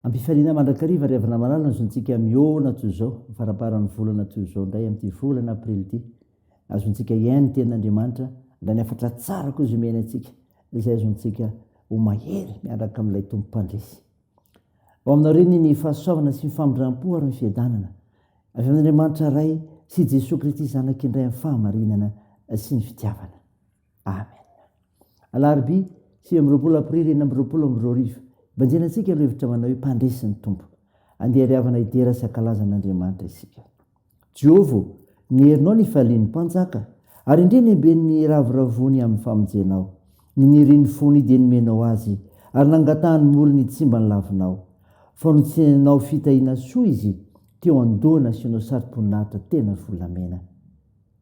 Ampifaliana mandrakariva ry havana malala ny zontsika mihoana toy izao, ny faramparan'ny volana toy izao indray amin'ity volana aprily ity. azontsika hiaina ny tenin'Andriamanitra, na ny hafatra tsara koa izay miaina antsika, izay azontsika ho mahery miaraka amin'ilay Tompo Mpandresy. Ho aminao reny ny fahasoavana sy ny famindram-po ary ny fiadanana avy amin'Andriamanitra Ray sy Jesoa Kristy Zanak'Indray amin'ny fahamarinana sy ny fitiavana. Amen. Alarobia sivy amby roapolo Aprily enina amby roapolo amby roa arivo. Banjina antsika ireo hevitra manao hoe mpandresy ny Tompo. Andeha ary havana hidera sy hankalaza an'Andriamanitra isika. Jehovah ô, nierinao ny fifalian'ny mpanjaka, ary indrey niamben'ny niravoravoany amin'ny famonjenao. Ny nirian'ny fony dia nomenao azy, ary nangatahan'ny molony hitsimba ny lavinao. Fa notsenenao fitahiana soa izy, teo an-doha nasianao saro-boninahitra tena volamena.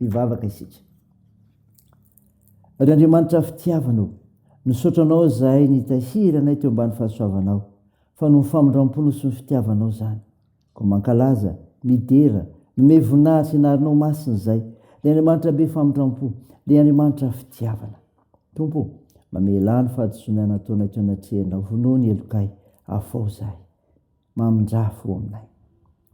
Hivavaka isika. Ry Andriamanitra fitiavana ô, misaotra Anao aho izahay nitahiry anay teo ambany fahasoavanao, fa noho ny famindram-ponao sy ny fitiavanao izany. Koa mankalaza, midera, mimehy voninahitra ny anaranao masina izahay, ry Andriamanitra be famindram-po, ry Andriamanitra fitiavana. Tompo ô, mamelà ny fahadisoana nataonay teo anatrehanao, vonoa ny helokay, afaho izahay. Mamindrà fo aminay.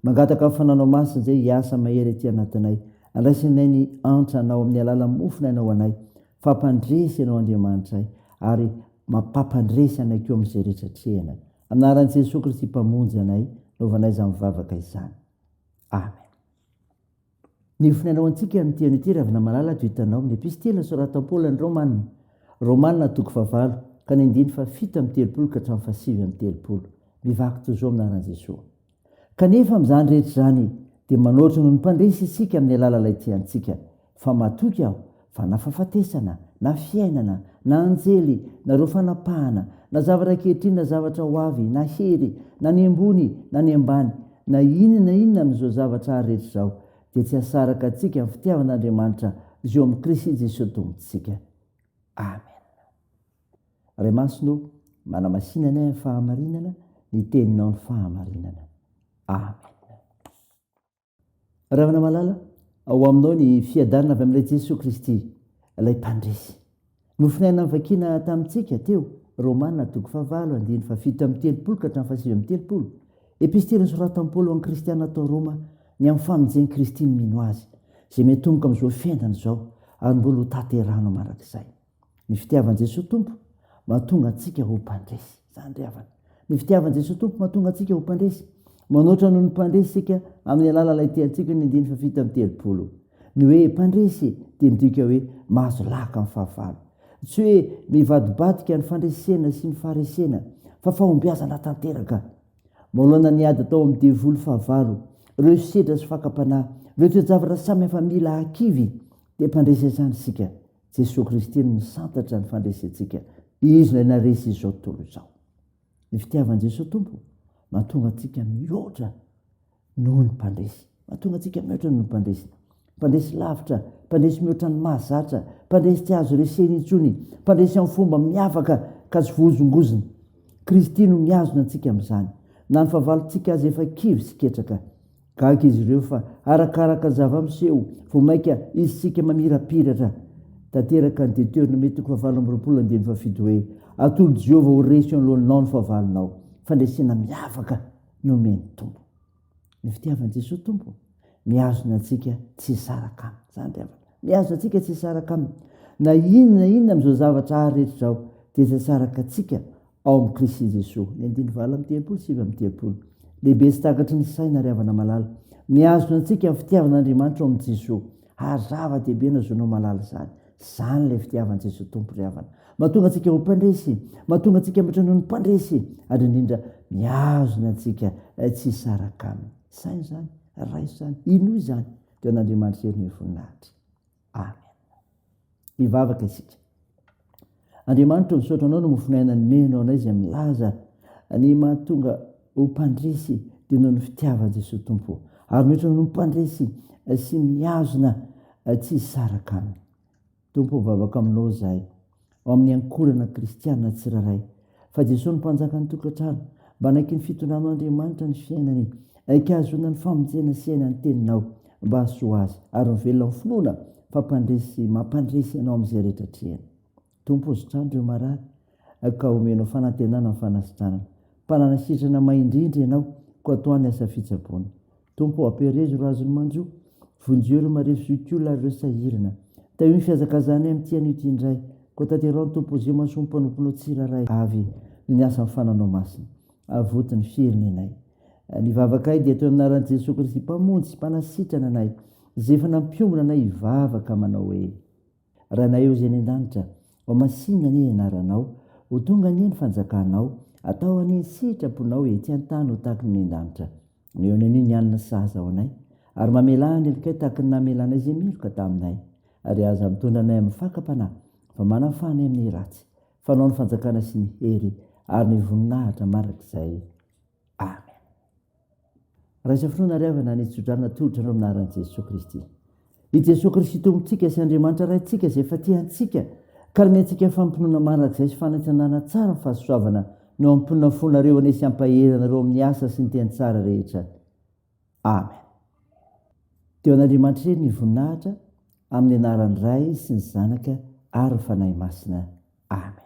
Mangataka ny Fananao Masina izay hiasa mahery aty anatinay. Andraisanay ny antra Anao amin'ny alalan'ny mofo nainao anay. Fampandresy Ianao Andriamanitray ary mapampandresy anay koa amin'izay rehetra atrehinay. Amin'ny anaran'i Jesoa Kristy Mpamonjy anay, naovanay izany vavaka izany. Amen. Ny fonenao antsika amin'ity an'ity Ravinamalala ato hitanao amin'ny epistila soratan'i Paoly an'i Romana, Romana toko fahavalo ka ny andininy fahafito amby telopolo ka hatramin'ny fahasivy amby telopolo. Mivaky toy izao amin'ny anaran'i Jesoa. Kanefa amin'izany rehetra izany dia manoatra noho ny mpandresy isika amin'ny alalan'ilay tia antsika, fa matoky aho Fa na fahafatesana, na fiainana, na anjely, na ireo fanapahana, na zavatra ankehitriny, na zavatra ho avy, na hery, na ny ambony, na ny ambany, na inona na inona amin'izao zavatra ary rehetra izao, dia tsy hasaraka antsika amin'ny fitiavan'Andriamanitra izay eo amin'i Kristy Jesoa Tompontsika. Amena. Ray Masina ô, manamasina anay amin'ny fahamarinana, ny Teninao ny fahamarinana. Amena. Ravanamalala, ao aminao ny fiadanana avy amin'ilay Jesoa Kristy, ilay mpandresy. Nofonaina nivakiana tamintsika teo, Romana toko fahavalo andininy fahafito amby telopolo ka hatramin'ny fahasivy amby telopolo, Epistily nosoratan'i Paoly ho an'ny Kristiana tao Roma, ny amin'ny famonjen'i Kristy ny mino Azy, izay miantomboka amin'izao fiainana izao ary mbola hotanterahinao mandrakizay. Ny fitiavan'i Jesoa Tompo mahatonga antsika ho mpandresy. Izany ry havana. Ny fitiavan'i Jesoa Tompo mahatonga antsika ho mpandresy. Manoatra noho ny mpandresy isika amin'ny alalan'ilay tiantsika ny andininy fahafito amby telopolo. Ny hoe mpandresy dia midika hoe mahazo laka amin'ny fahavalo. Tsy hoe mivadibadika ny fandresena sy ny faharesena, fa fahombiazana tanteraka. Manoloana ny ady atao amin'ny devoly fahavalo, ireo hesosedra sy fakam-panahy, ireo toe-javatra samihafa mila hakivy, dia mpandresy hatrany isika. Jesoa Kristy no nisantatra ny fandresentsika. Izy no ilay resy izao tontolo izao. Ny fitiavan'i Jesoa Tompo mahatonga antsika mihoatra noho ny mpandresy. Mahatonga antsika mihoatra noho ny mpandresy. Mpandresy lavitra, mpandresy mihoatra ny mahazatra, mpandresy tsy azo resena intsony, mpandresy amin'ny fomba miavaka ka tsy voahozongozona. Kristy no mihazona antsika amin'izany. Na ny fahavalontsika aza efa kivy sy ketraka. Gaga izy ireo fa arakaraka ny zava-miseho vao mainka isika mamirapiratra tanteraka ny Deteonomia toko fahavalo amby roapolo andininy fahafito hoe, Atolotry Jehovah ho resy eo anoloanao ny fahavalonao. Fandresena miavaka no omen'ny Tompo. Ny fitiavan'i Jesoa Tompo mihazona antsika tsy hisaraka Aminy. Izany ry havana. Mihazona antsika tsy hisaraka Aminy. Na inona na inona amin'izao zavatra haha rehetra izao dia tsy asaraka antsika Ao amin'i Kristy Jesoa. Ny andininy valo amby telopolo sy sivy amby telopolo. Lehibe sy takatry ny saina ary havana malala. Mihazona antsika ny fitiavan'Andriamanitra ao amin'i Jesoa. Ary zava-dehibe no ahazoanao malala izany. Izany ilay fitiavan'i Jesoa Tompo ry havana. Mahatonga antsika ho mpandresy. Mahatonga antsika mihoatra noho ny mpandresy. Ary indrindra, mihazona antsika tsy hisaraka Aminy. Saino izany. Raiso izany. Inoa izany. Teo an'Andriamanitra Hery noho ny voninahitra. Amen. Hivavaka isika. Andriamanitra, misaotra anao no mofon'aina nomenao anay izay milaza ny mahatonga ho mpandresy dia noho ny fitiavan'i Jesoa Tompo. Ary mihoatra noho ny mpandresy eh, sy mihazona eh, tsy hisaraka aminy. Tompo, mivavaka aminao izahay. ao amin'ny ankorana kristiana tsirairay, fa Jesoa no Mpanjakan'ny tokantrano, mba anaiky ny fitondranao Andriamanitra ny fiainany, aiky hahazoana ny famonjena sy aina ny teninao, mba hahasoa azy, ary ho velona amin'ny finoana fa mpandresy sy mampandresy ianao amin'izay rehetra atrehany. Tompo o sitrano ireo marary, ka omenao fanantenana ny fanasitranana. Mpanana sitrana maha indrindra ianao, koa tohano ny asa fitsaboana. Tompo ô, ampiherezo ireo azon'ny manjo, vonjeo ireo marefo zokiolona ary ireo sahirana. Tahio ny fihazakazahanay amin'ity anio ity indray, koa tanteraho ny Tompo Ozio mahasoa ny mpanomponao tsirairay avy ny asan'ny fananao masina. Avoty ny firenenay. Ny vavakanay dia atao amin'ny anaran'i Jesoa Kristy Mpamonjy sy Mpanasitrana anay, izay efa nampiombona anay hivavaka manao hoe. Ranay ô Zay any an-danitra, ho masinina anie ny anaranao, ho tonga anie ny fanjakanao, atao anie ny sitraponao ety an-tany ho tahaky ny any an-danitra. Mihaona anio ny alina sahaza ho anay, ary mamelà ny helokay tahaky ny namelanay izay meloka taminay, ary aza mitondra anay amin'ny fakam-panahy, fa manafaha anay amin'ny ratsy. Fanao ny fanjakana sy ny hery ary ny voninahitra mandrakizay. Amen. Raha izao fotoana ary havana ny tso-drano atolotra anao amin'ny anaran'i Jesoa Kristy. I Jesoa Kristy Tompontsika sy Andriamanitra Raintsika izay efa tia antsika ka hanome antsika fampinoana mandrakizay sy fanaintsanana tsara ny fahasoavana no hampitonona ny fonareo hanesy hampahery anareo amin'ny asa sy ny teny tsara rehetra. Amen. Dia ho an'Andriamanitra irery ny voninahitra amin'ny anaran'ny Ray sy ny Zanaka ary ny Fanahy Masina. Amen.